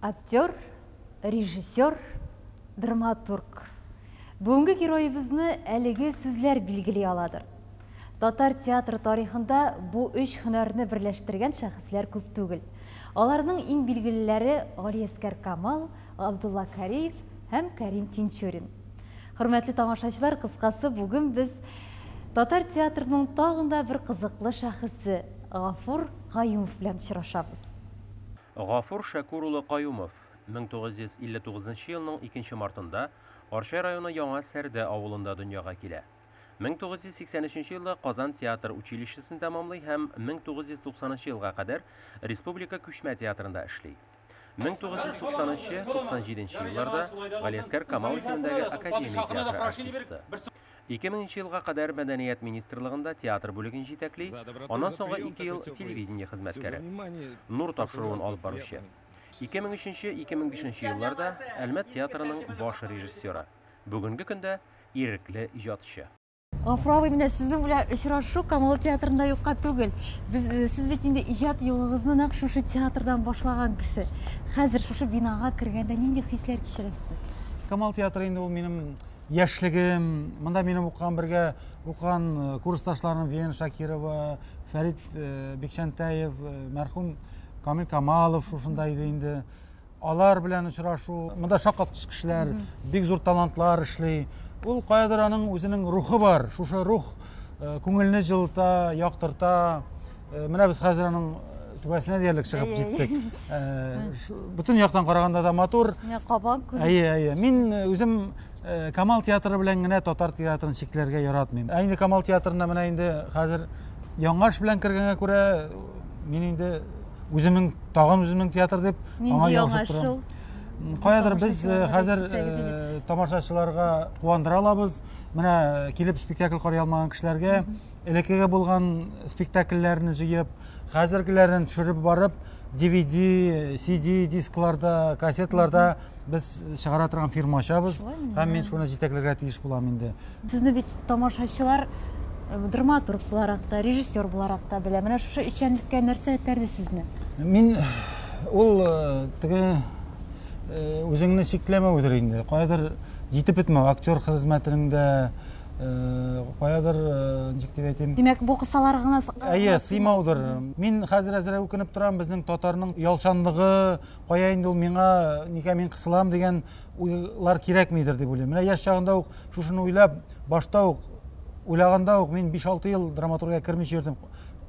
Актер, режиссер, драматург. Бүгенге героебызны әлеге сүзләр билгели аладыр. Татар театры тарихында бу өч һөнәрне берләштергән шәхесләр күп түгел. Аларның иң билгелеләре Галиәскәр Камал, Габдулла Кариев һәм Кәрим Тинчурин. Хөрмәтле тамашачылар, кыскасы, бүген без татар театрының тагын да бер кызыклы шәхесе Гафур Гаюмов белән очрашабыз. Гафур Шәкүр улы Каюмов, 1959 нчы елның икенче мартында Арча районы Яңа Сәрдә авылында дөньяга килә. 1983 нче елда Казан театр училищесын тәмамлый һәм 1990 нчы елга кадәр республика күчмә театрында эшли. 1990 нчы, 97 нче елларда Галиәскәр Камал исемендәге академия театры артисты. Ике меңенче елга кадәр Мәдәният министрлыгында театр бүлеген җитәкли, аннан соңгы ике ел телевидение хезмәткәре. Нур тапшыруын алып баручы. Ике мең өченче, ике мең бишенче елларда Әлмәт театрының баш режиссеры. Бүгенге көндә ирекле иҗатчы. Гафур абый, менә сезнең белән очрашу Камал театрында юкка түгел. Без, сез бит инде иҗат юлыгызны нәкъ шушы театрдан башлаган кеше. Хәзер шушы бинага кергәндә нинди хисләр кичерәсез? Камал театры инде ул минем Яшьлегем, монда минем укыган бергә укыган э, курсташларым Вена Шакирова, Фәрит э, Бекчәнтәев, э, мәрхүм Камил Камалов шушында иде инде. Алар белән очрашу, монда шаккаткыч кешеләр, бик зур талантлар эшли. Ул каядыр аның үзенең рухы бар. Шушы рух күңелне җылыта, яктырта. Э, менә без хәзер аның э, түбәсенә диярлек чыгып җиттек э, бөтен яктан караганда да матур кабан күренә әйе әйе мин үзем камал театры белән генә татар театрын чикләргә яратмыйм ә инде камал театрына менә инде хәзер яңаш белән кергәнгә күрә мин инде үземнең тагын үземнең театр дип аңа ябышып торам каядыр без хәзер тамашачыларга куандыра алабыз менә килеп спектакль карый алмаган кешеләргә элеккеге булган спектакльләрне җыеп, хәзергеләрен төшереп барып, DVD, CD дискларда, кассетларда без чыгара торган фирма ачабыз. Һәм мин шуны җитәкләргә тиеш булам инде. Сезне бит тамашачылар э, драматург буларак та, режиссер буларак та белә. Менә шушы эшчәнлеккә нәрсә этәрде сезне? Мин ул э, теге э, үзеңне чикләмәүдер инде. Кайдыр җитеп бетмәү актер хезмәтенең дә каядыр ничек дип әйтим димәк бу кысалар гына әйе сыймаудыр мин хәзер әзрәк үкенеп торам безнең татарның ялчанлыгы кая инде ул миңа нигә мин кысылам дигән уйлар кирәкмидер дип уйлыйм менә яшь чагында ук шушыны уйлап башта ук уйлаганда ук мин биш алты ел драматургиягә кермичә йөрдем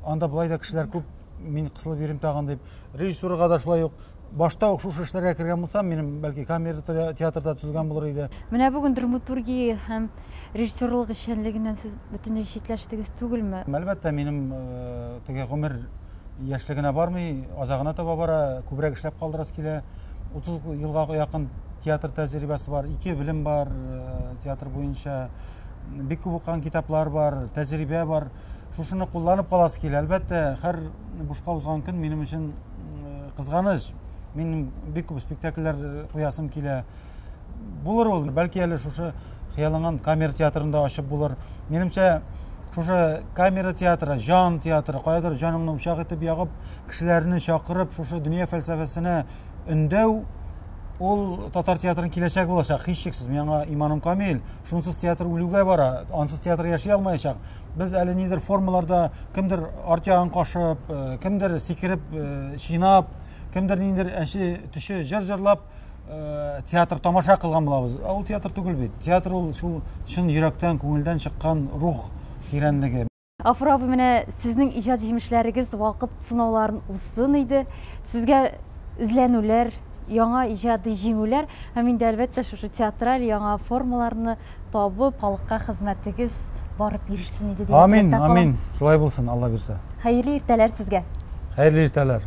анда болай да кешеләр күп мин кысылып йөрим тагын дип режиссураға да шулай ук Башта ук шушы эшләргә кергән булсам, минем бәлки камера театрда төзелгән булыр иде. Менә бүген драматургия һәм режиссерлык эшчәнлегеннән сез бөтенләй читләштегез түгелме? Әлбәттә, минем э, теге гомер яшьлегенә бармый, азагына таба бара, күбрәк эшләп калдырасы килә. 30 елга якын театр тәҗрибәсе бар, ике белем бар э, театр буенча, бик күп укыган китаплар бар, тәҗрибә бар. шушыны кулланып каласы килә. Әлбәттә, һәр бушка узган көн минем өчен кызганыч. Мин бик күп спектакльләр э, куясым килә. Булыр ул, бәлки әле шушы хыялланган камера театрында ачып булыр. Минемчә, шушы камера театры, жан театры, каядыр җаныңны учак итеп ягып, кешеләрне чакырып, шушы дөнья фәлсәфәсенә өндәү Ул татар театрының киләчәге булачак, һичшиксез. Миңа иманым камил. Шунсыз театр үлүгә бара, ансыз театр яши алмаячак. Без әле нидер формаларда кемдер арт ягын кашып, э, кемдер сикереп, э, чинап, кемдер ниндер әче төше җыр җырлап э, театр тамаша кылган булабыз. Ә ул театр түгел бит. Театр ул шул чын йөрәктән, күңелдән чыккан рух тирәнлеге. Гафур абый, менә сезнең иҗат җимешләрегез вакыт сынауларын узсын иде. Сезгә эзләнүләр, яңа иҗади җиңүләр һәм инде әлбәттә шушы театраль яңа формаларны табып, халыкка хезмәтегез барып йөрсен иде дип теләктә Амин, калам. амин. Шулай булсын, Алла бирсә. Хәерле иртәләр сезгә. Хәерле иртәләр.